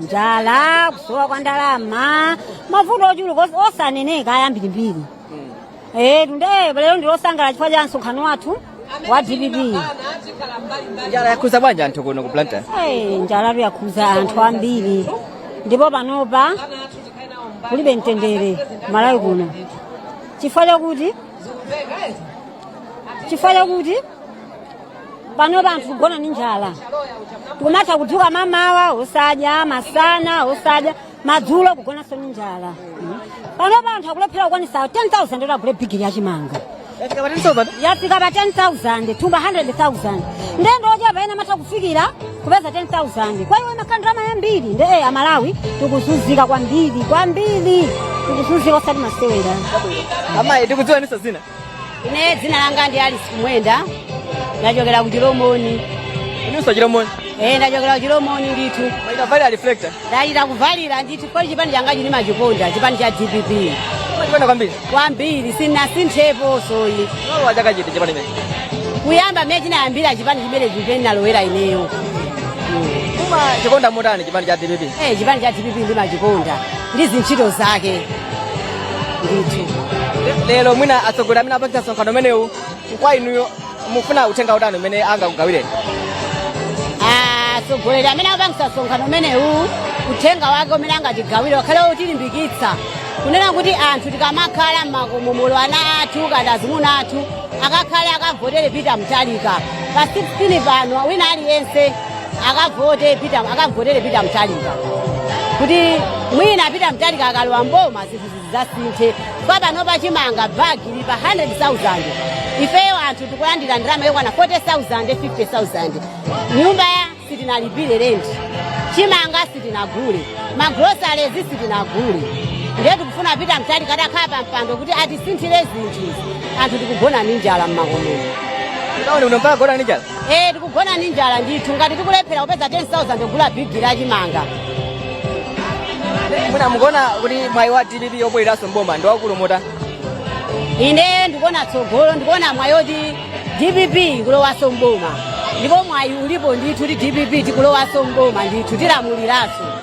njala kusowa kwa ndalama mavuto ochuluka os- osaneneka ayambirimbiri eh tu nde lero ndilosangalala chifukwa cha msonkhano wathu wa dpp njala yakhuza bwanji anthu kuno ku blantyre Eh, njala yakhuza anthu ambiri ndipo panopa kulibe mtendere malawi kuno chifukwa chakuti chifukwa chakuti panopa anthu kugona ni njala kumatha kudzuka mamawa osadya masana osadya madzulo kugonanso ni njala panopa anthu akulephera kukwanisa 10000 oti agule bigili ya chimanga Yafika pa 10,000? yafika pa 10000 thumba 100000 nde ndi ochepa amene amatha kufikira kupeza 10000 kwa iwo imakhala ndalama yambiri nde eh, amalawi tikuzunzika kwambiri kwambiri tikuzunzika osati masewera Amayi, tikudziweninso dzina. ine dzina langa ndi alice kumwenda ndachokera ku chilomoni inuso chilomoni ee ndachokera ku chilomoni ndithu mwachita kuvalira reflector ndachita kuvalira ndithu poti chipani changa chimene ndimachikonda chipani cha dpp chipani kwambiri kwambiri sinasintheposo ine mwalowa chaka chiti chipani chimenechi kuyamba mene chinayambira chipani chimenechi mpamene ndinalowera ineyo mumachikonda motani chipani cha dpp ee chipani cha dpp ndimachikonda ndi zintchito zake Le- lero mwina atsogoleri amene apangitsa msonkhano umenewu kwa inuyo mufuna uthenga utani umene angakugawireni atsogoleri amene apangitsa msonkhano umenewu uthenga wake umene angatigawire wakhale wotilimbikitsa kunena kuti anthu tikamakhala m'makomomo ana athu kapena azimuna athu akakhale akavotere peter mutharika pa 16 pano wina aliyense akavote pita akavotere peter mutharika kuti mwina peter mutharika akalowa mboma zinthu zizasinthe kwa panopa chimanga bagi ili pa 100000 ifeyo anthu tikulandira ndalama yokwana 40000 50000 nyumbayo sitinalipire renti chimanga sitinagule magolosale sitinagule ndiye tikufuna peter mutharika atakhala pa mpando kuti atisinthire zinthu anthu tikugona ndi njala mmakomomo Ndaona mpaka kugona ni njala. Eh, tikugona ndi njala ndithu ngati tikulephera kupeza 10000 kugula bigili ya chimanga mwina mukuona kuti mwayi wa dpp wobwereranso mboma ndi waukulu motani ine ndikuona tsogolo ndikuona mwayi oti dpp ikulowanso mboma ndipo mwayi ulipo ndithu kuti dpp tikulowanso mboma ndithu tilamuliranso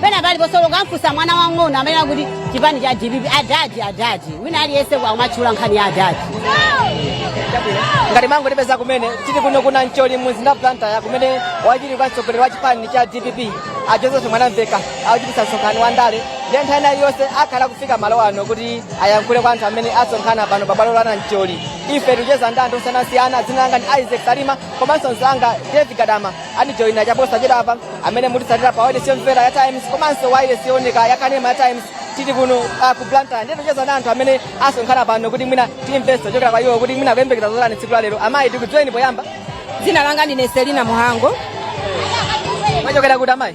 pena paliponse olo ukamfunsa mwana wang'ono amanena kuti chipani cha dpp adadi adadi wina aliyense akumatchula nkhani ya adadi ngati mwangotipeza kumene tili kuno ku nancholi mumzinda wa blantyre kumene wachiwiri kwa mtsogoleri wa chipani cha dpp a joseph mwanamveka akuchititsa msonkhano wa ndale ndiye nthawi ina iliyonse akhala akufika malo ano kuti ayankhule kwa anthu amene asonkhana pano pa bwalo la nancholi ife tikucheza ndi anthu osiyanasiyana dzina langa ndi isaac salima komanso mzanga david gadama andijoyina chaposachedwapa amene mukutitsatira pa wailesi yomvera ya times komanso wailesi yooneka ya kanema ya times tili kuno ah, ku blantyre ndiye tikucheza na anthu amene asonkhana pano kuti mwina timvenso kuchokera kwa iwo kuti mwina akuyembekeza zotani tsiku la lero amayi tikudziweni poyamba Dzina langa ndine Selina Muhango. mwachokera kuti amayi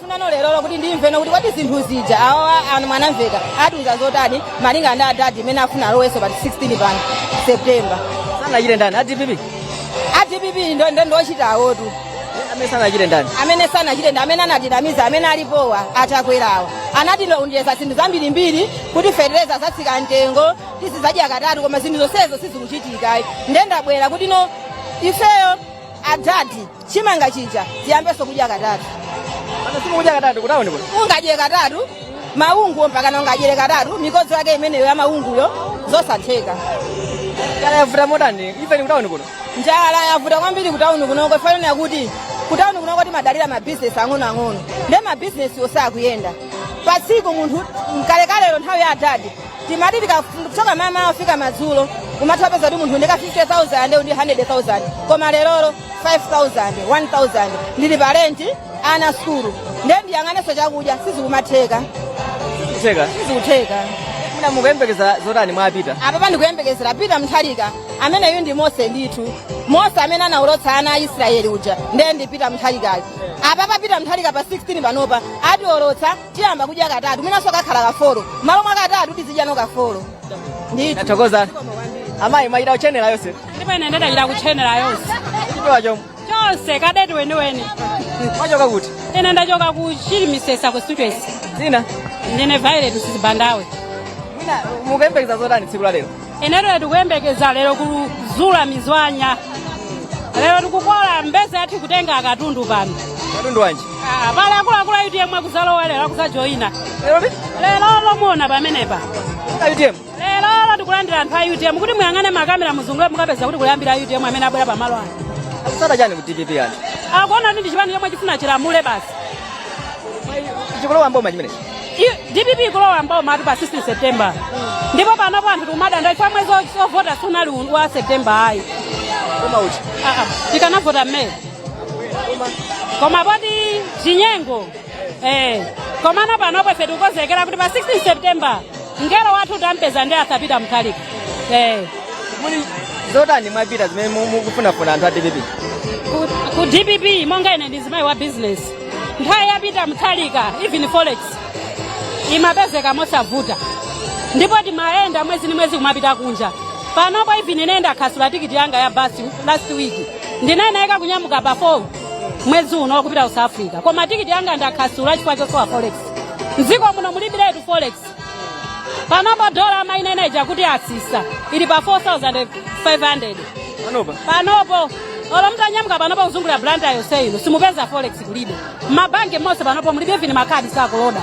Kufuna lero lokuti ndimveno kuti kodi zinthu zija awawa a Mwanamvekha atiuza zotani malinga ndi adadi mmene afuna alowenso pa 16 pano septemba sanachite ndani a dpp a dpp ndo ndo ndochita awotu amene sanachite ndani amene sanachite ndi amene anatinamiza amene alipowa atakwerawa anatilonjeza zinthu zambirimbiri kuti fetereza azatsika mtengo tizizadya katatu koma zinthu zonsezo sizikuchitika nde ndabwera kuti no ifeyo adadi chimanga chija tiziyambanso kudya katatu Pano simukudya katatu kutauni kuno. ungadyere katatu maungu mpakana ungadyere katatu mikodzo yake imeneyo ya maunguyo zosatheka Njala yavuta motani. Ifeyo ni kutauni kuno. njala yavuta kwambiri kutauni kunoko chifukwa chakuti kutauni kunoko timadalira mabhizinesi ang'onoang'ono nde mabhizinesiwo sakuyenda pa tsiku munthu mkalekalero nthawi ya adadi timati tikachoka mmamawa kufika madzulo kumatha kupeza kuti munthu ndika 50000 ndi 100000 koma lerolo 5000 1000 ndili pa renti ana sukulu ndiye ndiyang'anenso chakudya sizikumatheka sizikutheka mwina mukuyembekeza zotani mwa pita apapa ndikuyembekezera pita mutharika ameneyu ndi mose ndithu mose amene anawolotsa ana a israeli uja ndiye ndi pita mutharikayo apapa pita mutharika pa 16 panopa atiwolotsa tiyamba kudya katatu mwinanso kakhala kafolo malo mwa katatu tizidya kafolo ndithu Ndathokoza. Amayi mwachita kutchenera yonse. ndipo ine ndachita kutchenera yonse Chipewa chomwe. chonse kadeti weniweni Mwachoka kuti? ine ndachoka ku chilimisesa ku students Dzina. ndine violet sizibandawe Mwina mukuyembekeza zotani tsiku la lero? inetu tikuyembekeza lero kuzula mizwanya lero tikukola mbeza yathu kutenga akatundu pano katundu wanji Ah, pali akuluakulu a utm akuzalowa lero akuzajoyina lero liti lero lomweli pamenepa a utm lero tikulandira anthu a utm kuti muyang'ane makamera muzungule mukapeza kuti kuli ambiri a utm amene abwera pamalo ano akutsata chani ku dpp yani akuona kuti ndi chipani chomwe chifuna chilamule basi chikulowa mboma chimene I- dpp ikulowa mbomamutu pa 16 september ndipo panopo anthu tikumadandaula ife mwezi o- ovota sunali u- wa september ayi koma uti Ah, ah, tikanavota mmene koma poti chinyengo eh komano panopo ife tikukonzekera kuti pa 16 september mngelo wathu tampeza ndi atha pita mutharika eh muli zotani mwa pita zimene mu- mukufunafuna anthu a dpp ku, ku dpp monga ine ndi mzimayi wa business nthawi ya peter mutharika even forex imapezeka mosavuta ndipo timayenda mwezi ndi mwezi kumapita kunja panopo even ine ndakansula tikiti yanga ya basi last week ndinayenereka kunyamuka pa 4 mwezi uno kupita ku south africa koma tikiti yanga ndakansula chifukwa chosowa forex mdziko muno mulibiretu forex panopo dola amayinena ija kuti atsitsa ili pa 4500 panopo olo mutanyamuka panopo kuzungulira blantyre yonse ino simupeza forex kulibe mmabanki monse panopo mulibe even makhadi sakuloda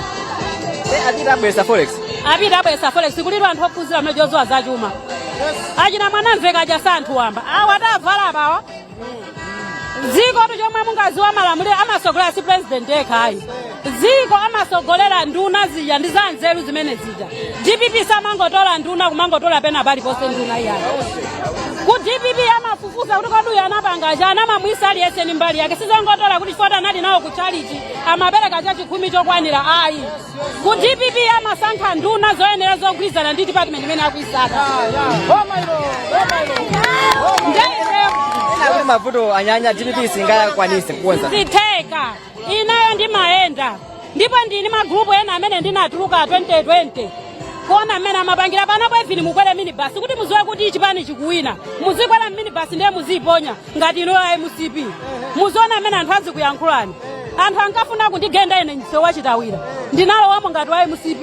apita abweza forex apita abweza forex kulibe anthu ophunzira amene odziwa zachuma achina mwanamvekha aja si anthu wamba awa atavala apawa dzikotu chomwe mungadziwe malamuliro amatsogolera si president yekha ayi dziko amatsogolera nduna zija ndi za nzeru zimene zija dpp samangotola nduna kumangotola pena paliponse nduna iyayi ku dpp amafufuza kuti kodi uyu anapanga chani amamuika aliyense ni mbali yake sizongotola kuti chifukwa choti anali nawo ku chalichi amapereka chachikhumi chokwanira ayi ku dpp amasankha nduna zoyenera zogwirizana ndi department imene akuisaka Ena akuti mavuto anyanya DPP singakwanise kukonza. zitheka ineyo ndimayenda ndipo ndili mmagrupu ena amene ndinatuluka 2020 kuona mmene amapangira panopo even mukwere minibasi kuti mudziwe kuti chipani chikuwina muzikwera mminibasi ndiye muziiponya ngati inuyo a mcp muziona mmene anthu azikuyankhulani anthu ankafuna kundigenda ine msewu wa chitawira ndinalowamo ngati wa mcp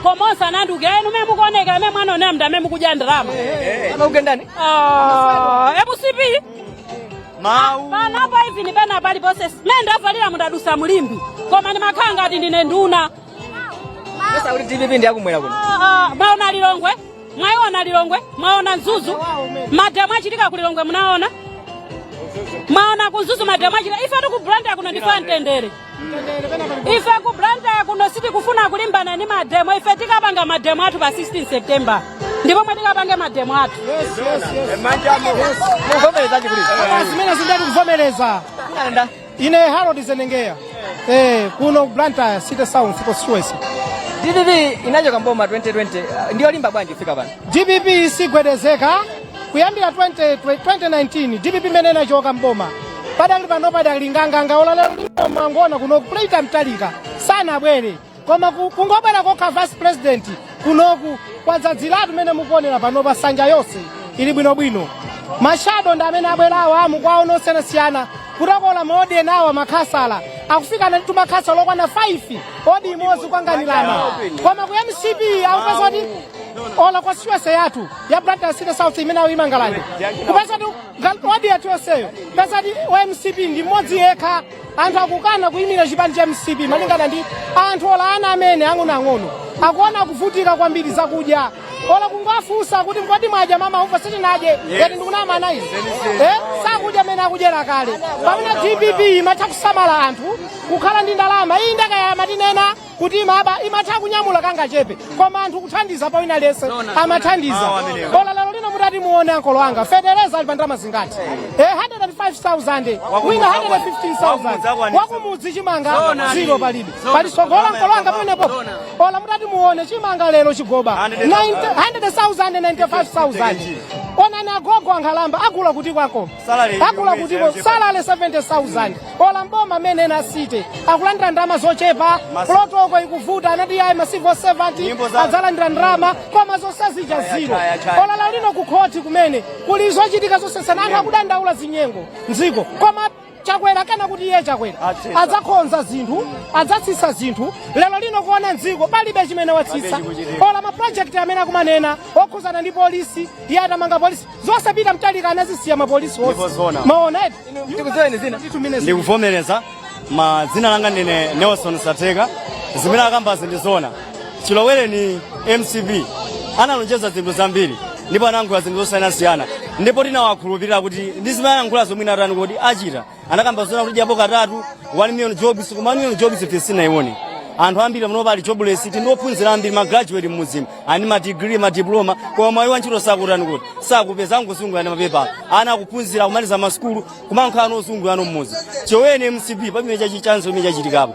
koma onse anandiukira inu mene mukuoneka mmene mwanonera mnda mmene mukudya ndalama timakugendani Ah, mcp mawu panopo even pena paliponse mene ndavalira umu ndadutsa mu limbe koma ndimakhala ngati ndine nduna osati kuti dpp ndiyakumwera kuno Ah, ah, mwaona lilongwe mwayiona lilongwe mwaona mzuzu mademo achitika ku lilongwe munaona mwaona ku mzuzu mademo achitika ifetu ku blantyre kuno ndife amtendere ife ku blantyre kuno sitikufuna kulimbana ndi mademo ife tikapanga mademo athu pa 16 september ndi pomwe tikapange mademo athu Muvomereza chikulira. Zimene zija ndati kuvomereza. Ine Harold Zenengeya. Eh, kuno Blantyre City South constituency. DPP inachoka mboma 2020 uh, ndiyolimba bwanji kufika pano. DPP isigwedezeka kuyambira 20, 2019 DPP imene inachoka mboma pakadali pano idakali nganganga olo lero mangoona kuno kuti peter mutharika sanabwere koma ku- kungobwera kokha vice president kunoku kwadzadziratu mene mukuonera panopa nsanja yonse ili bwinobwino mashado ndi amene abwerawo a mu ward zosiyanasiyana kuti akhala mawodi enawo makhansala akufikanatitu makhansala okwana 5 wodi imodzi kukanganirana koma ku mcp ukapeza kuti olo constituency yathu ya blantyre city south imene awo imanga lande kupeza kuti wodi yathu yonseyo peza kuti mcp ndi mmodzi yekha anthu akukana kuyimira chipani cha mcp malingana ndi anthu ola ana amene ang'onoang'ono akuona kuvutika kwambiri zakudya ola kungowafunsa kuti mkodi mwadya mama ufa sitinadye ngati ndikunama anayi eh? sakudya mmene akudyera kale pamene dpp imatha kusamala anthu kukhala ndi ndalama iyi ngakhale amatinena kuti imaba imatha kunyamula kangachepe koma anthu kuthandiza pa wina aliyense amathandiza ola lero lino mutati muone ankolo anga fetereza ali pa ndalama zingati eh 105000 wina 115000 wakumudzi chimanga zero palibe pali tsogolo ankolo anga pamenepo ola mutati muone chimanga lero chigoba 90 100000 95000 onani agogo ankhalamba agula kuti kwako agula kutiko salary 70000 ola mboma amene ena asite akulandira ndalama zochepa protoko ikuvuta anati ayi ma civil servant adzalandira ndalama koma zonse zija zero ola lero lino ku khoti kumene kuli zochitika zosesana anthu akudandaula zinyengo mdziko koma chakwera kana kuti iye chakwera adzakonza zinthu adzatsitsa zinthu lero lino kuona mdziko palibe chimene watsitsa ola mapulojekiti amene akumanena okhuzana ndi polisi iye atamanga polisi zonse a peter mutharika anazisiya mapolisi Ndipo onse zona. maona eti Ndikudziweni dzina. ndikuvomereza ma dzina langa ndine nelson sateka zimene akambazi ndi zona chilowereni mcp analonjeza zinthu zambiri ndipo anayankhula zinthu zosiyanasiyana ndipo tinawakhulupirira kuti ndi zimene anayankhula zomwe inatani kodi achita anakamba zonena kuti dyapo katatu 1 million jobs koma 1 million jobs sitinaione anthu ambiri muno pali jobless ti ndiophunzira ambiri ma graduate mmudzimu ali ndi ma degree ma diploma koma mwayi wa ntchito sakutani kodi sakupeza angozungulira ndi mapepala ana akuphunzira kumaliza masukulu kumakhala ozungulira mmudzi chilowereni mcp palibe chachi chanzeru chimene chachitikapo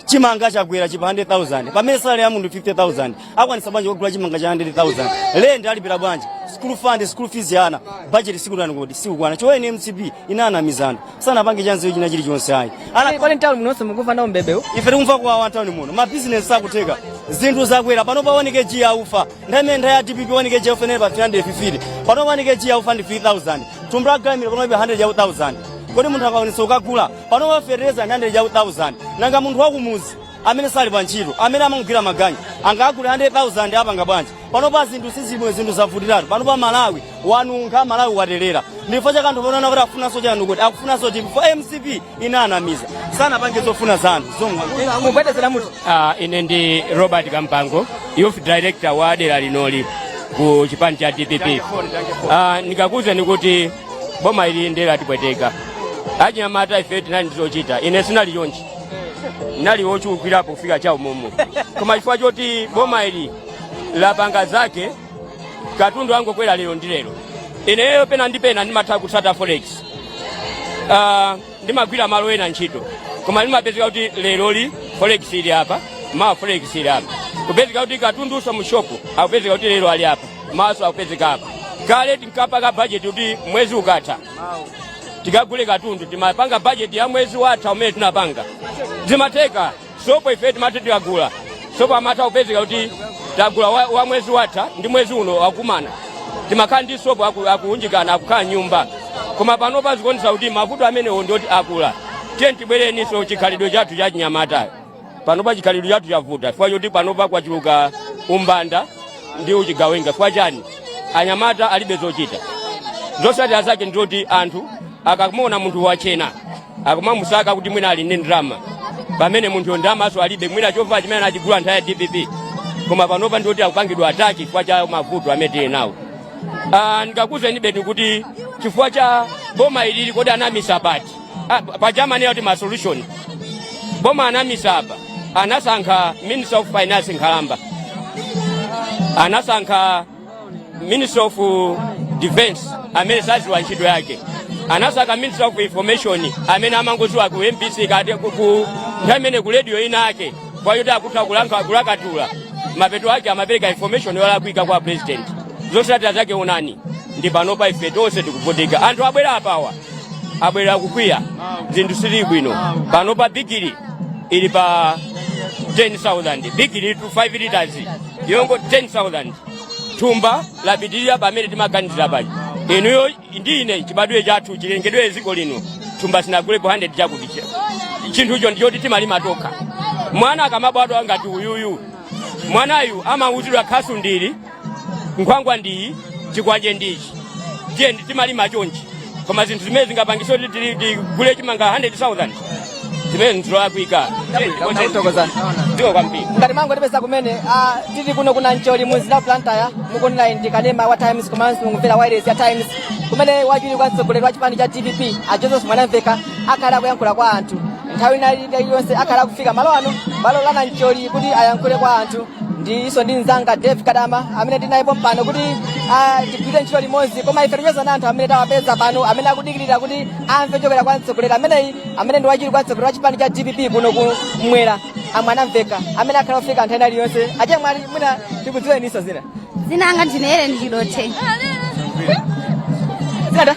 chimanga chakwera chili pa 100,000 pamene salary ya munthu 50,000 akwanisa bwanji kugula chimanga cha 100,000 rent alipira bwanji school fund school fees ya ana budget sikutani kodi sikukwana chilowereni mcp inanamiza anthu sanapange chanzeru china chilichonse ayi ana Pale mtawuni muno nonse mukumva nawo mbebe. ife tikumva kuwawa mtawuni muno mabizinesi sakutheka zinthu zakwera panopa 1 kg yaufa nthawi imene nthawi ya dpp 1 kg yaufa inali pa 350 pano 1 kg yaufa ndi 3000 thumba la gramil panopa 100,000 kodi munthu akwanisa kukagula panopa fertilizer 100,000 nanga munthu wakumudzi amene sali pa ntchito amene amangogwira maganyu angagule 100,000 apanga bwanji panopa zinthu sizimwe zinthu zavutiratu panopa malawi wanunkha malawi watelera ndi chifukwa chake anthu panopa kuti afunanso chani kodi akufunanso chinthu fo mcp inanamiza sanapange zofuna za anthu zomwe mugwedezera mutu Ah, ine ndi robert kampango youth director wa dera linoli ku chipani cha dpp Ah, ndikakuwuzani kuti boma ili ndiye latipweteka achinyamata ife tinali ndi zochita ine sinali chonchi nali wochulukirapo kufika cha umumu koma chifukwa choti boma ili lapanga zake katundu angokwera lero ndi lero ineyo pena ndi pena ndimatha kutsata forex Ah, ndimagwira malo ena ntchito koma ndimapezeka kuti leroli forex ili apa mawa forex ili apa kupezeka kuti katundunso mu shopu akupezeka kuti lero ali apa mawanso akupezeka apa kale tinkapanga bajeti kuti mwezi ukatha tikagule katundu timapanga bajeti ya mwezi watha umene tinapanga zimatheka sopo ife timati tikagula sopo amatha kupezeka kuti tagula wa, wa mwezi watha ndi mwezi uno akumana timakhala ndi sopo aku- akuunjikana akukhala m'nyumba koma panopa zikuonesa kuti mavuto amenewo ndioti akula tiyeni tibwerenso chikhalidwe chathu cha chinyamata panopa chikhalidwe chathu chavuta chifukwa choti panopa kwachuluka umbanda ndi uchigawenga chifukwa chani anyamata alibe zochita zotsatira zake ndizoti anthu akamuona munthu wachena akumamusaka kuti mwina ali ndi ndalama pamene munthuyo ndalamanso alibe mwina chovala chimene anachigula nthawi ya dpp koma panopa ndizoti akupangidwa ataki chifukwa cha mavuto amene tili nawo Ah, ndikakuuzeni beti kuti chifukwa cha boma ilili kodi anamisa pati Ah, pa Germany yoti ma solution. Boma anamisa apa. Anasankha Minister of Finance nkhalamba. Anasankha Minister of uh, Defense amene saziwa ntchito yake. Anasankha Minister of Information amene amangoziwa ku MBC kati ku- ku amene ku radio ina yake. Chifukwa choti akutha kulanka kulakatula. Mapeto ake amapereka information yolakwika kwa president. Zotsatira zake onani. Ndi panopa ife tonse tikuvutika. Anthu abwera apawa. abwera akukwiya zinthu sizili bwino panopa bigiri ili pa 10000 bigiri tu 5 liters yongo 10000 thumba lapitirira pamene timaganizira paja inuyo ndi ine chibadwe chathu chilengedwe dziko lino thumba sitinagulepo 100 chakuti chinthucho ndichoti timalima tokha mwana akamabadwa ngati uyuyu mwanayu amauzidwa khasu ndili nkhwangwa ndiyi chikwanje ndichi tiye ndi- timalima chonchi koma zinthu zimene zingapangise kuti tili- tigule chimanga 100000 zimene nzolakwika zikomo kwambiri ngati mwangotipeza kumene ah, tili kuno ku nancholi mu mzinda wa blantyre mukuonera ndi kanema wa times komanso mukumvera wailesi ya times kumene wachiwiri kwa mtsogoleri wa chipani cha dpp a joseph mwanamveka akhala akuyankhula kwa anthu nthawi ina iliyonse akhala akufika malo ano bwalo la nancholi kuti ayankhule kwa anthu ndilinso ndi mzanga dave kadama amene ndinaye pompano kuti ah, tigwire ntchito limodzi koma ife ticheza na anthu amene tawapeza pano amene akudikirira kuti amve kuchokera kwa mtsogoleri ameneyi amene ndi wachiwiri kwa mtsogoleri wa chipani cha dpp kuno kummwera a mwanamveka amene akhala akufika nthawi ina iliyonse achemwali mwina tikudziweninso dzina Dzina langa ndine Helen Chidothe. zina ta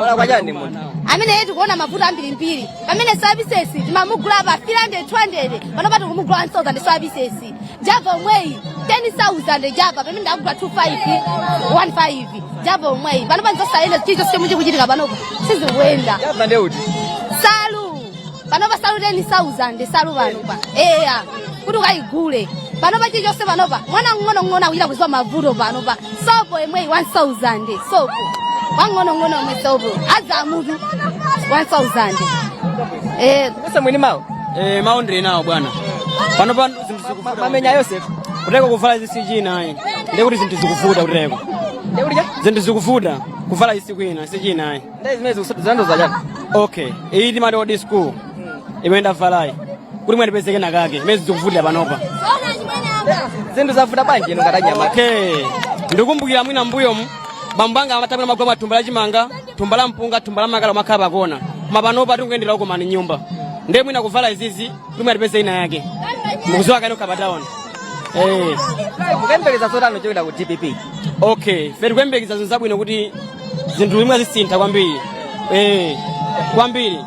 Ola kwa chani munthu. ameneyi tikuona mavuto ambirimbiri pamene services timamugula pa 300 200 panopa tikumugula 1000 services java omweyi 10000 java pamene ndakugula 25 15 java omweyi panopa nzosayenda chilichonse chomwe chikuchitika panopa sizikuenda Java nde uti. panopa salu teni sauzande salu panopa eya kuti ukayigule panopa chilichonse panopa mwana mng'onong'ono akuchita kuziwa mavuto panopa sopo yemweyi 1000 sopo wang'onong'ono yomwe sopo adza mutu 1000 eh Sasa mwini mawo. Eh, mawo ndili nawo bwana panopa zinthu zikuvuta Mamenya Yosef. kuteka kuvala zisiku ina ayi ndekuti zinthu zikuvuta kuteka Ndikuti cha? zinthu zikuvuta kuvala zisiku ina siku ina ayi Nde zimene zikusanduza zachani? Okay, iyi timati odi school. Imene ndavalayi. Kuti mwina ndipezeke na kake. Imene zikuvutira panopa. Zinthu zavuta bwanji ino ngati nyama. Okay. Ndikumbukira mwina mbuyo mu. Bambo anga amatamira magoma thumba la chimanga, thumba la mpunga, thumba la makala makhala pakona. Koma panopa tikuyendera uko mani nyumba. Ndiye mwina kuvala izizi, kuti mwina ndipezeke na kake. Mukuziwa kanu nkha pa taoni. Eh, mukuyembekeza zotani kuchokera ku dpp okay ife tikuyembekeza zinthu zabwino kuti zinthu zimwe zisintha kwambiri Eh, kwambiri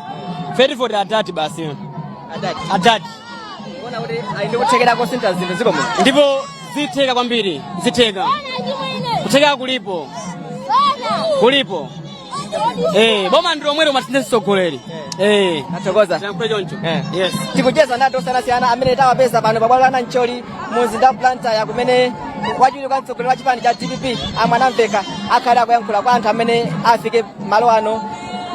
ife tivotera adadi basi adadi adadi kuona kuti ali ndi kuthekera kosintha zinthu ziko muno ndipo zitheka kwambiri zitheka kuthekera kulipo kulipo Eh, boma ndi lomweli timasintha ndi mtsogoleri. Eh, Tathokoza. chankwe choncho. Eh. Yes. tikucheza ndi anthu osiyanasiyana amene tawapeza pano pabwalo la nancholi mu mzinda wa blantyre komwe wachiwiri kwa mtsogoleri wa chipani cha dpp a mwanamveka akhale akuyankhula kwa anthu amene afike malo ano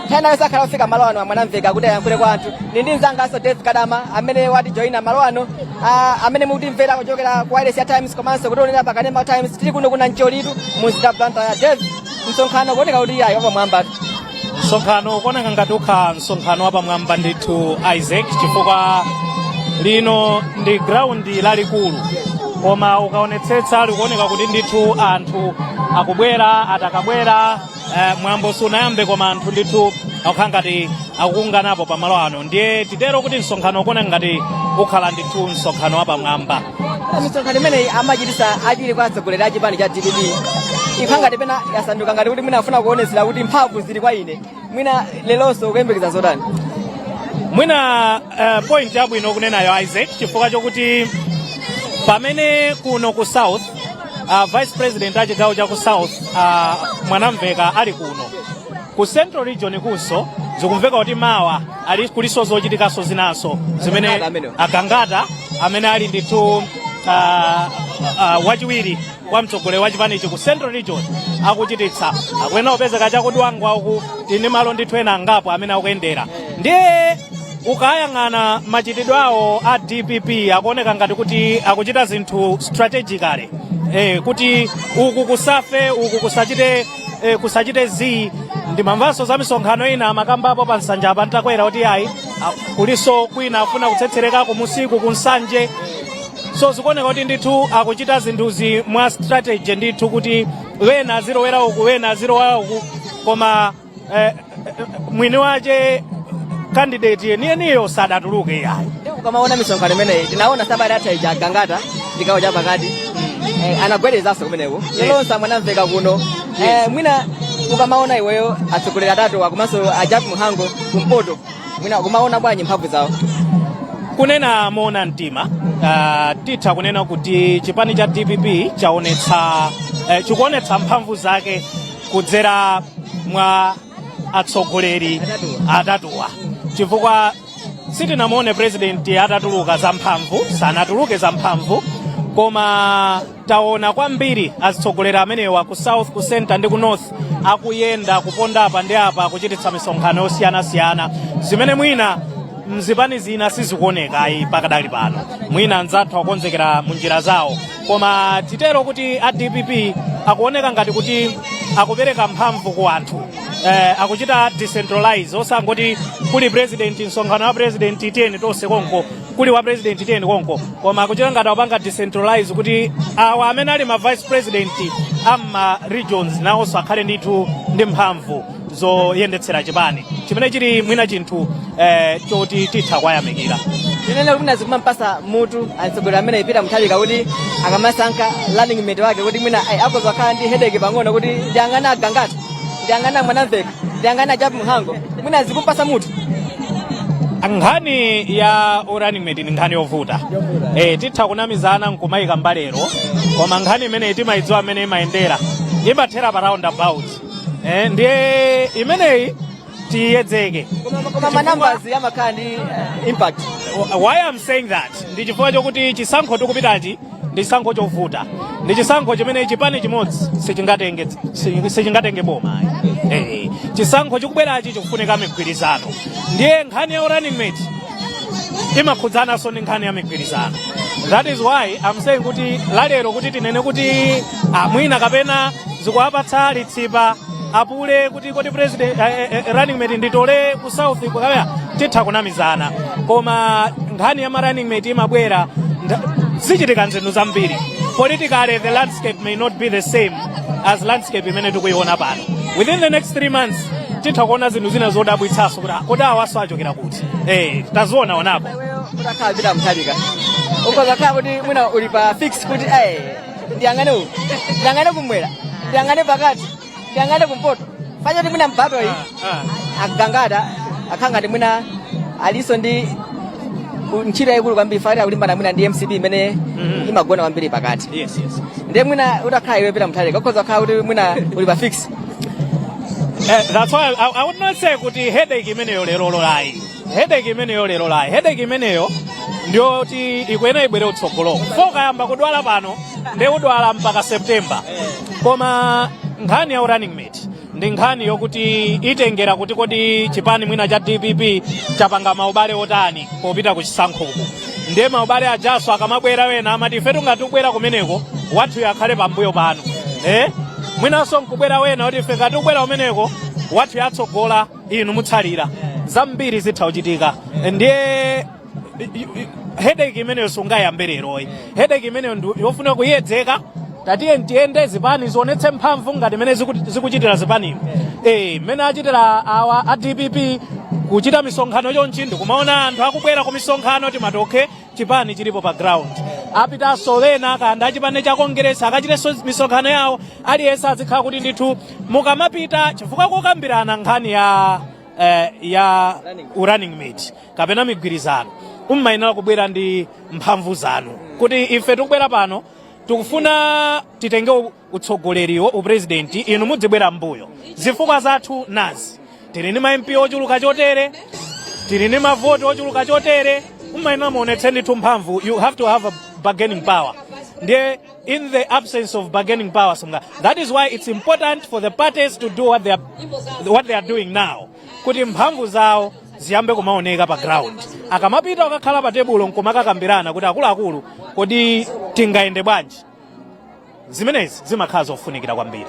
nthawi ina iliyonse akhala akufika malo ano a mwanamveka kuti ayankhule kwa anthu ndili ndi mzanganso dave kadama amene watijoyina malo ano ah, amene mukutimvera kuchokera ku wailesi ya times komanso kutionera pakanema times tili kuno ku nancholitu mu mzinda wa blantyre dave msonkhano ukuoneka kuti ayi wapamwamba msonkhano ukuoneka ngati ukhala msonkhano wapamwamba ndithu isaac chifukwa lino ndi graundi lalikulu koma ukaonetsetsa likuoneka kuti ndithu anthu akubwera adakabwera eh, mwambo sunayambe koma anthu ndithu akukhala ngati akukunganapo pamalo ano ndiye titero kuti msonkhano ukuoneka ngati ukhala ndithu msonkhano wapamwamba misonkhano imeneyi amachitisa achiwiri kwa atsogoleri a chipani cha dpp ikhala ngati pena yasanduka ngati kuti mwina afuna kuonetsera kuti mphamvu zili kwa ine mwina lelonso kuyembekeza zotani mwina uh, point yabwino kunenayo isaac chifukwa chokuti pamene kuno ku south uh, vice president a chigawo cha ku south uh, mwanamveka ali kuno ku central region kunso zikumveka kuti mawa ali kulinso zochitikanso zinanso zimene Agangata amenewo. agangata amene ali ndithu uh, uh, wachiwiri kwa mtsogoleri wa chipanichi ku central region akuchititsa akuyenera kupezeka cha ku Dwangwa uku ndi malo ndithu ena angapo amene akuyendera ndiye ukayang'ana machitidwe awo a dpp akuoneka ngati kuti akuchita zinthu strategically eh, kuti uku kusafe uku kusachite e, kusachite zii ndimamvanso za misonkhano ina amakambapo pa nsanja apa Ntakwera kuti ayi a- kulinso kwina akufuna kutsetsereka kumunsiku ku nsanje so zikuoneka kuti ndithu akuchita zinthuzi mwa strategy ndithu kuti wena azilowera uku wena azilowera uku koma eh, mwini wace kandideti yeniyeniyo sadatuluke iyayi Ndiye ukamaona misonkhano imeneyi tinaona sabata yatha ija agangata chigawo cha pakati eh, anagwedezanso kumeneko yelonse a Mwanamveka kuno eh, mwina ukamaona iweyo atsogoleri atatuwa komanso a Jappie Mhango kumpoto mwina ukuiona bwanji mphamvu zawo kunena moona mtima uh, titha kunena kuti chipani cha dpp chaonetsa eh, chikuonetsa mphamvu zake kudzera mwa atsogoleri atatuwa chifukwa sitinamuone president atatuluka zamphamvu sanatuluke zamphamvu koma taona kwambiri azitsogoleri amenewa ku south ku center ndi ku north akuyenda kuponda apa ndi apa kuchititsa misonkhano yosiyanasiyana zimene mwina mzipani zina sizikuonekayi pakadali pano mwina anzathu akonzekera mu njira zawo koma titero kuti a dpp akuoneka ngati kuti akupereka mphamvu ku anthu eh, akuchita decentralize osangoti kuli president msonkhano wa president 10 tonse konko kuli wa president 10 konko koma akuchita ngati akupanga decentralize kuti awa amene ali ma vice president amma regions nawonso akhale ndithu ndi mphamvu zoyendetsera chipani chimene chili mwina chinthu eh, choti titha kwayamikira tinene kuti zikumampatsa mutu atsogoleri amenewa Peter Mutharika kuti akamasankha running mate wake kuti mwina ai, akoza kukhala ndi hedeke pang'ono kuti ndiyang'ana agangata ndiyang'ana mwanamveka ndiyang'ana a Jappie Mhango mwina zikumpatsa mutu nkhani ya running mate ni nkhani yovuta eh, titha kunamizana nkumayika mbalero koma nkhani imeneyi timayidziwa mmene imayendera imathera pa round about Eh, ndiye imeneyi tiiyedzeke koma manambazi amakhala ndi eh, impact why am saying that ndi chifukwa chokuti chisankho tikupitachi ndi chisankho chovuta ndi chisankho chimene chipani chimodzi sichingatenge si- sichingatenge boma ayi. Eh, chisankho chikubwerachi chikufunika migwirizano ndiye nkhani ya running mate imakhudzananso ndi nkhani ya migwirizano that is why I'm saying kuti lalero kuti tinene kuti mwina kapena zikuwapatsa litsipa a APM kuti kodi president eh, eh, eh, running mate nditole ku south kaya titha kunamizana koma nkhani ya ma running mate imabwera nda- zichitika nzinthu zambiri politically the landscape may not be the same as landscape imene tikuiona pano within the next three months titha kuona zinthu zina zodabwitsaso kuti ah, kodi awaso achokera kuti eh taziona onapo utakhala Peter Mutharika ukhoza kukhala kuti mwina uli pa fix kuti eh ndiyang'ane uku ndiyang'ane kumwera ndiyang'ane pakati ndiyang'ane kumpoto fa choti mwina kumpotoyi a Gangata akhalanga ndi mwina alinso ndi u- ntchito yayikulu kwambiri fa akulimbana mwina ndi mcp imene imagona kwambiri pakati yes yes ndiye mwina utakhala iwe Peter Mutharika ukhoza kukhala kuti mwina uli pa fix Eh, that's why I, I would not say kuti headache imeneyo lerolo ayi headache imeneyo lerolo ayi headache imeneyo ndiyoti ikuyenera ibwere kutsogolo fa ukayamba kudwala pano ndiye udwala mpaka september koma nkhani ya running mate ndi nkhani yokuti itengera kuti kodi chipani mwina cha dpp chapanga maubale otani popita ku chisankhoku ndiye maubale ajaso akamabwera wena amati ifetu ngati tikubwera kumeneko wathuyo akhale pambuyo panu eh? mwinanso nkubwera wena kuti ife ngati tikubwera kumeneko wathuyu atsogola inu mutsalira zambiri zitha kuchitika ndiye headache imeneyo singayambe lero ayi headache imeneyo ndi yofunika kuyiyedzeka tatiye tiyende zipani zionetse mphamvu ngati mmene ziku- zikuchitira zipanimo eh mmene achitira awa a dpp kuchita misonkhano chonchi ndikumaona anthu akubwera ku misonkhano timati okay chipani chilipo pa ground apitanso wena kaya ndi achipani cha kongeresi akachitenso misonkhano yawo aliyense azikhala kuti ndithu mukamapita chifukwa pokambirana nkhani ya eh, ya running mate kapena migwirizano mumayenera kubwera ndi mphamvu zanu kuti ife tikubwera pano tikufuna titenge u- utsogoleriwo uprezidenti inu mudzibwera mbuyo zifukwa zathu nazi tili ndi ma mp ochuluka chotere tili ndi mavoti ochuluka chotere mumayenera muonetse ndithu mphamvu you have to have a bargaining power ndiye in the absence of bargaining power simunga that is why it's important for the parties to do what they are, what they are doing now kuti mphamvu zawo ziyambe kumaoneka pa ground akamapita akakhala pa tebulo nkumakakambirana kuti akuluakulu kodi tingayende bwanji zimenezi zimakhala zofunikira kwambiri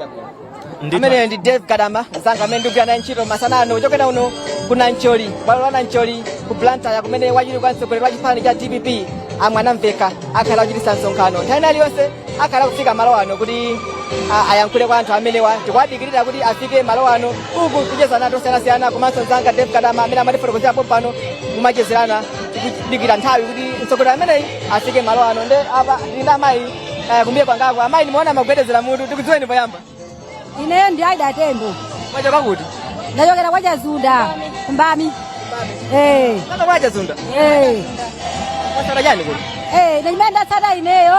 ameneyo ndi Dave Kadango mzanga amene ndikugwira naye ntchito masana ano kuchokera uno ku nancholi bwalo la nancholi ku blantyre kumene wachiwiri kwa mtsogoleri wa chipani cha dpp a Mwanamvekha akhale akuchititsa msonkhano nthawi ina iliyonse akhala kufika malo ano kuti a- ayankhule kwa anthu amenewa tikuwadikirira kuti afike malo ano uku tikuchezerana zosiyanasiyana komanso mzanga dave kadama amene amatifotokozera pompano kumachezerana tikudikira nthawi kuti mtsogoleri ameneyi afike malo ano nde apa tili ndi amayi eh, kumbuye kwangako amayi ndimaona mukugwedezera mutu tikudziweni poyamba ineyo ndi aida tembo mwachokera kuti ndachokera kwa chazunda kumbami Eh, kwa chazunda eh, mwatsata chani kuno eh, chimene ndatsata ineyo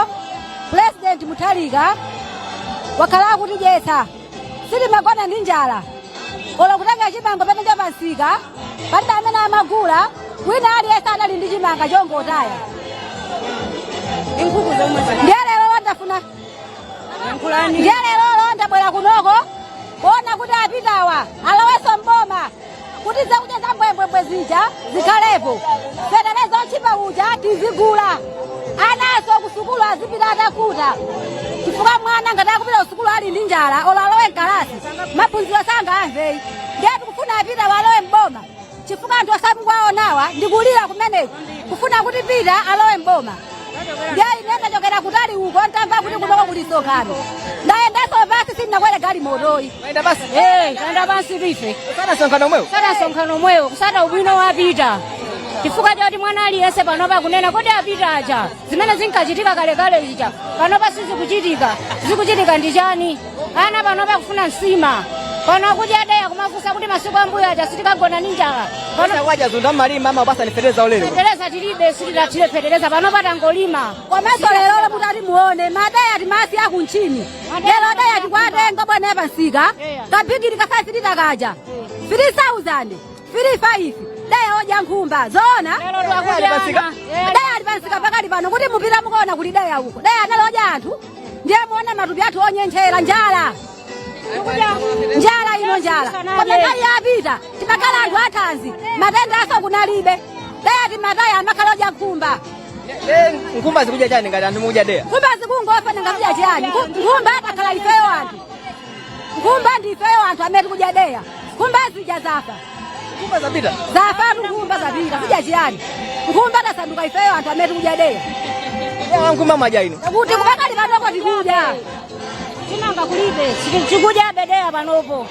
pulezidenti mutharika wakhala akutidyetsa sitimagona ndi njala olo kutenga chimanga pena cha pamsika palibe amene amagula wina aliyense anali ndi chimanga chongotaya ndi lero ndafuna ndiye lerolo ndabwera kunoko kuona kuti apitawa alowenso mboma kuti zakudya za mbwembwembwe zija zikhalepo fetereza otchipa uja tizigula anaso kusukulu azipita atakhuta chifukwa mwana ngati akupita kusukulu ali ndi njala olo alowe mkalasi maphunziro sangamveyi ndiye tikufuna apitawa alowe mboma chifukwa anthu amene mukuwaonawa ndi kulira kumeneko kufuna kuti pita alowe mboma ndiye ine ndachokera kutali uko ntamva kuti kunoko kuli msonkhano ndayendanso pansi sindinakwere galimotoyi Mwayenda pansi. Eh, tayenda pansi ife Kutsata msonkhano omwewo. kutsata msonkhano omwewo kutsata ubwino wapita chifukwa choti mwana aliyense panopa akunena kuti apita aja zimene zinkachitika kalekale zija panopa sizikuchitika zikuchitika ndi chani ana panopa akufuna nsima pano akudya deya akumafunsa kuti masiku ambuyo aja sitikagona ndi njala pano kwa Chazunda mmalima ma basi ndi fetereza waulele. fetereza tilibe sitidathire fetereza panopa tangolima komanso lero mutati muone madeya timasiya kumtchini lero deya tikuwatenga bwana yapamsika kachigili ka 5 lita kaja 3000 firifayifi deya odya nkhumba zoona deya ali pamsika pakali pano kuti mupite mukaone kuli deya uko deya analodya anthu ndiye muona matupi athu onyentchera njala njala ino njala koma nthawi yapita timakhala anthu athanzi matendaso kunalibe deya timataya amakalodya nkhumba Eh, nkhumba zikudya chani ngati anthu mukudya deya nkhumba zikungofa nanga kudya chiyani nkhumba takhala ifeyo anthu Nkhumba ndi ifeyo anthu amene tikudya deya. Nkhumba zija zafa. Nkhumba zapita. Zafatu nkhumba zapita. Kudya chiyani? Nkhumba tasanduka ifeyo anthu amene tikudya deya. Eya nkhumba mwadya inu. Kuti pakali panopo tikudya. Chimanga kulibe. Tikudya be deya panopo.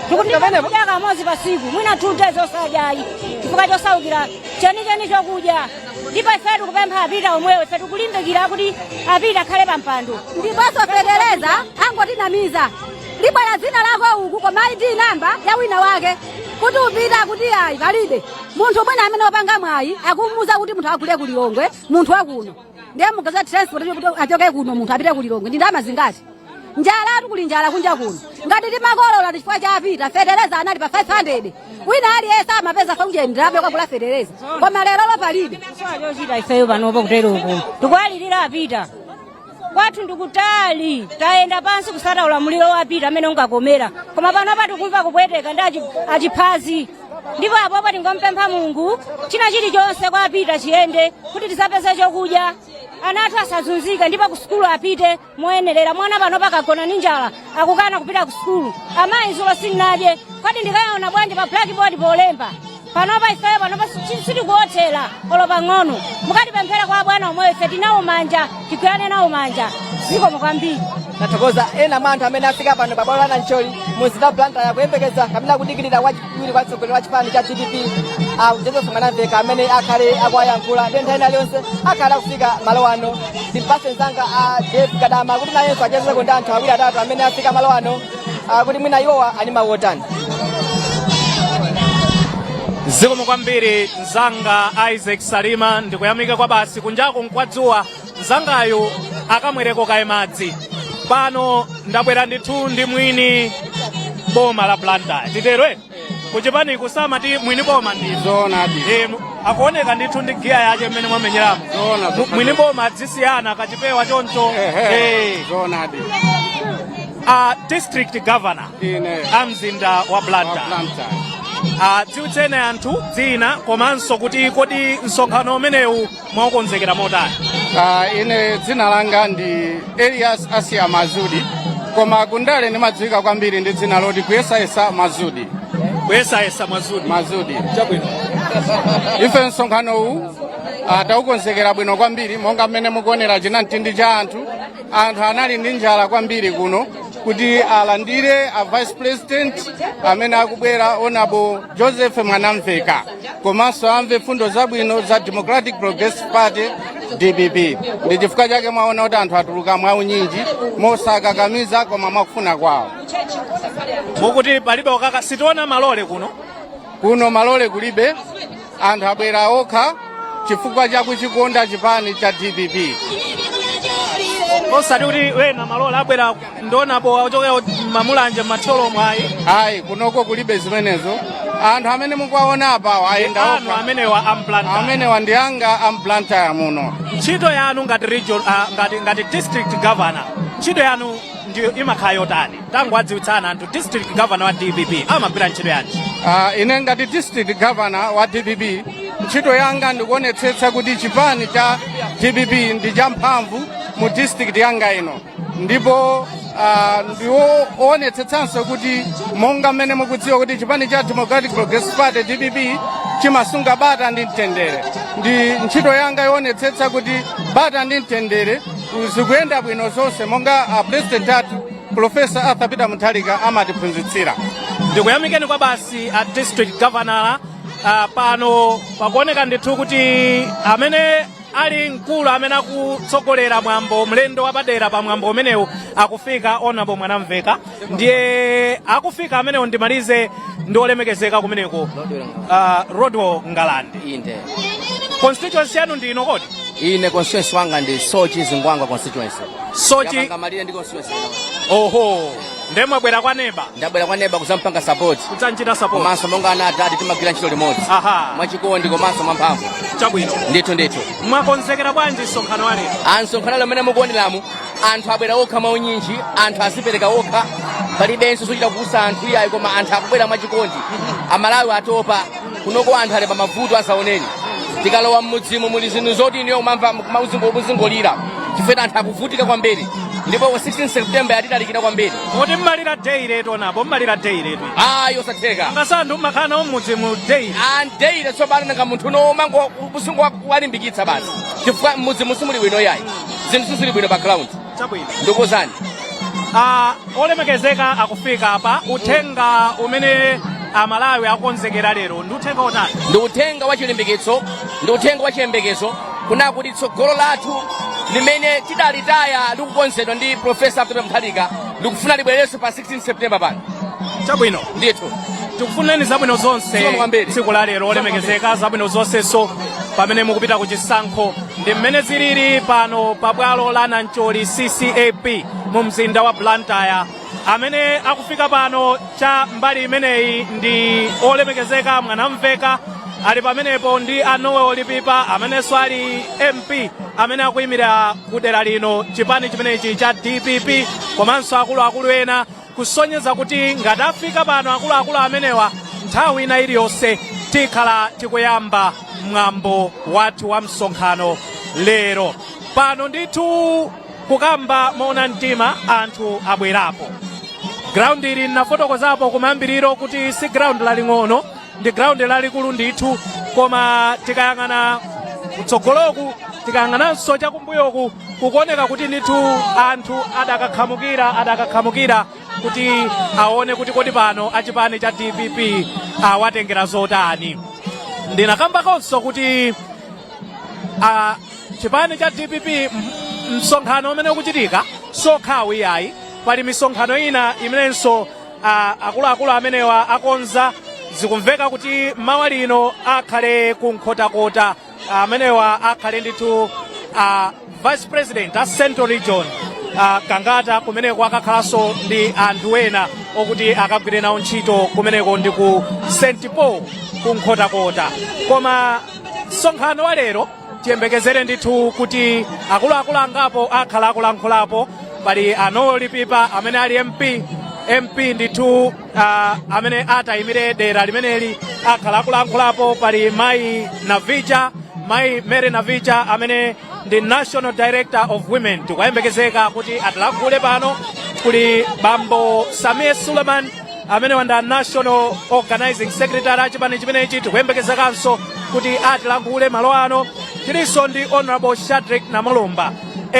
Tikudya kamodzi patsiku. Mwina two days osadyayi. Chifukwa chosaukira chenicheni chokudya. ndipo ife tikupempha a peter omwewo ife tikulimbikira kuti a peter akhale pa mpando ndiponso fetereza angotinamiza libwera dzina lako uku koma id namba ya wina wake kuti upita kuti ayi palibe munthu mwina amene wapanga mwayi akumuuza kuti munthu agule ku lilongwe munthu wakuno ndiye muganize transport achoke kuno munthu apite ku lilongwe ndi ndalama zingati njalatu kuli njala kunja kuno ngati timakolola chifukwa cha a peter fetereza anali pa 500 wina aliyense amapeza 500 kukagula fetereza koma lerolo palibe chochita ifeyo panopo kutero uku tikuwalirira a peter kwathu ndikutali tayenda pansi kusata ulamuliro wa a peter amene unkakomera koma panopa tikumva kupweteka ndi achi- achiphazi ndipo apopo tingompempha mulungu china chilichonse kwa a peter chiyende kuti tizapeze chokudya ana athu asazunzike ndipo kusukulu apite moyenerera mwana pano pakagona ndi njala akukana kupita ku sukulu amayi zulo sinnadye kodi ndikaona bwanji pa blackboard polemba panopa ifeyo panopa si- sitikuothera olo pang'ono mukatipemphere kwa abwana omwewo ife tinawo manja tigwirane nawo manja zikomo kwambiri tathokoza ena mwa anthu amene afika pano pabwalo la nancholi mu mzinda wa blantyre kuyembekeza kapena kudikirira wachi wiri kwa mtsogoleri wa chipani cha dpp a joseph mwanamveka amene akhale akuwayankhula ndi nthawi ina iliyonse akhale akufika malo ano ndimupatse mzanga a dave kadama kuti nayenso achezeko ndi anthu awiri atatu amene afika malo ano ah, kuti mwina iwowa ali ndi mawu otani zikomo kwambiri mzanga isaac salima ndikuyamika kwabasi kunjaku nkwadzuwa mzangayu akamwereko kaye madzi pano ndabwera ndithu ndi mwini boma la blantyre titero eti kuchipaniku samati mwini boma ndi zoonadi Eh, mu- akuoneka ndithu ndi giya yache mmene mwamenyeramo Zoona, Mu- mwini boma adzisiyana kachipewa choncho Ehe, Eh, zoonadi a district governor ine a mzinda wa blantyre Blantyre. adziwitseni anthu dzina komanso kuti kodi msonkhano umenewu mwaukonzekera motani Uh, ine dzina langa ndi elias asiya mazudi koma kundale ndimadziwika kwambiri ndi dzina loti kuyesayesa mazudi kuyesayesa mazudi mazudi chabwino ife msonkhano uwu uh, taukonzekera bwino kwambiri monga mmene mukuonera chinamtindi cha anthu anthu anali ndi njala kwambiri kuno kuti alandire a vice president amene akubwera honourable joseph mwanamveka komanso amve mfundo zabwino za Democratic Progressive Party DPP. Ndi chifukwa chake mwaona kuti anthu atuluka mwaunyinji mosakakamiza koma mwakufuna kwawo. mukuti palibe okaka sitiona malole kuno Kuno malole kulibe, anthu abwera okha chifukwa cha kuchikonda chipani cha DPP. osati kuti mwina malole abwera ndi onabo ochokera mma Mulanje mma Thyolo mwayi ayi kunoko kulibe zimenezo anthu amene mukuwaona apawo ayenda okha amenewa a mBlantyre amenewa ndi anga a mBlantyre muno ntchito yanu ngati region ah, ngati ngati district governor ntchito yanu ndiyo imakhala yotani tangowadziwitsani anthu district governor wa dpp amagwira ntchito yanji Ah, ine ngati district governor wa dpp ntchito yanga ndikuonetsetsa kuti chipani cha dpp ndi champhamvu mu district yanga ino ndipo ah, ndi woonetsetsanso kuti monga mmene mukudziwa kuti chipani cha democratic progressive party dpp chimasunga bata ndi mtendere ndi ntchito yanga yoonetsetsa kuti bata ndi mtendere zikuyenda bwino zonse monga a president athu profesa arthur peter mutharika amatiphunzitsira ndikuyamikeni kwabasi a district governor uh, pano pakuoneka ndithu kuti amene ali mkulu amene akutsogolera mwambo mlendo wapadera pa mwambo umenewu akufika honorable Mwanamvekha ndiye akufika amenewo ndimalize ndi olemekezeka kumeneko uh, rodwell ngalande inde constituency yanu ndi ino kodi ine constituency wanga ndi Soche Zingwangwa constituency Soche yapanga malire ndi constituency ino. oho nde mwabwera kwa neba ndabwera kwa neba kudzampanga support kudzamchita support komanso monga ana a dad timagwira ntchito limodzi aha mwachikondi komanso mwamphamvu chabwino ndithu ndithu mwakonzekera bwanji msonkhano wa lero a msonkhano ali mmene mukuoneramu anthu abwera okha mwa unyinji anthu azipereka okha palibenso zochita kukusa anthu iyayi koma anthu akubwera mwachikondi amalawi atopa kunoko anthu ali pamavuto osaneneka tikalowa mmudzimu muli zinthu zoti inuyo kumamva kuzingolira chifukwa anthu akuvutika kwambiri ndipo 16 september yatitalikira kwambiri kuti mmalira day letu onapo mmalira day letu ayi osatheka ngasanthu mmakhala nawo mmudzi mu day andeile tsopano nanga munthu nomango usingo walimbikitsa basi chifukwa mmudzimu simuli bwino yayi zinthu sizili bwino pa ground Chabwino. ndiuzeni Ah, olemekezeka akufika apa uthenga umene amalawi akonzekera lero ndi uthenga wotani ndi uthenga wa chilimbikitso ndi uthenga wa chiyembekezo kunena kuti tsogolo lathu limene tidalitaya likukonzedwa ndi profesa arthur mutharika likufuna libwererenso pa 16 september pano chabwino ndithu tikufunireni zabwino zonse Zikomo kwambiri. tsiku la lero olemekezeka zabwino zonsenso pamene mukupita ku chisankho ndi mmene zilili pano pa bwalo la nancholi ccap mu mzinda wa blantyre amene akufika pano cha mbali imeneyi ndi olemekezeka Mwanamvekha ali pamenepo ndi a Noel Lipipa amenenso ali mp amene akuyimirira kudera lino chipani chimenechi cha dpp komanso akuluakulu ena kusonyeza kuti ngati afika pano akuluakulu amenewa nthawi ina iliyonse tikhala tikuyamba mwambo wathu wa msonkhano lero pano ndithu kukamba moona mtima anthu abwerapo ground ili ndinafotokozapo kumayambiriro kuti si ground laling'ono ndi ground lalikulu ndithu koma tikayang'ana kutsogoloku tikayang'ananso chakumbuyoku kukuoneka kuti ndithu anthu adakakhamukira adakakhamukira kuti aone kuti kodi pano achipani cha dpp awatengera zotani ndinakambakonso kuti a chipani cha dpp m- msonkhano umene ukuchitika si wokhawu iyayi pali misonkhano ina imenenso a- akuluakulu amenewa akonza zikumveka kuti mawa lino akhale ku nkhotakota amenewa akhale ndithu a vice president a central region a gangata kumeneko akakhalanso ndi anthu ena okuti akagwire nawo ntchito kumeneko ndi ku st paul ku nkhotakota koma msonkhano wa lero tiyembekezere ndithu kuti akuluakulu angapo akhala akulankhulapo pali a noel lipipa amene ali mp mp ndithu uh, amene akuyimira dera limeneli akhala akulankhulapo pali mayi navicha mayi mary navicha amene ndi national director of women tikuyembekezeka kuti atilankhule pano kuli bambo samir suleiman amenewa ndi a national organizing secretary achipani chimenechi tikuyembekezekanso kuti atilankhule malo ano tilinso ndi honorable shadrick namalomba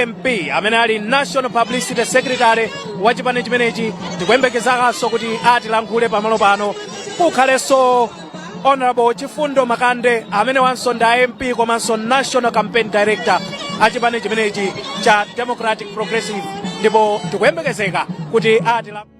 mp amene ali national publicity secretary wa chipani chimenechi tikuyembekezekanso kuti atilankhule pamalo pano kukhalenso honorable chifundo makande amenewanso ndi a mp komanso national campaign director achipani chimenechi cha democratic progressive ndipo tikuyembekezeka kuti atilankhule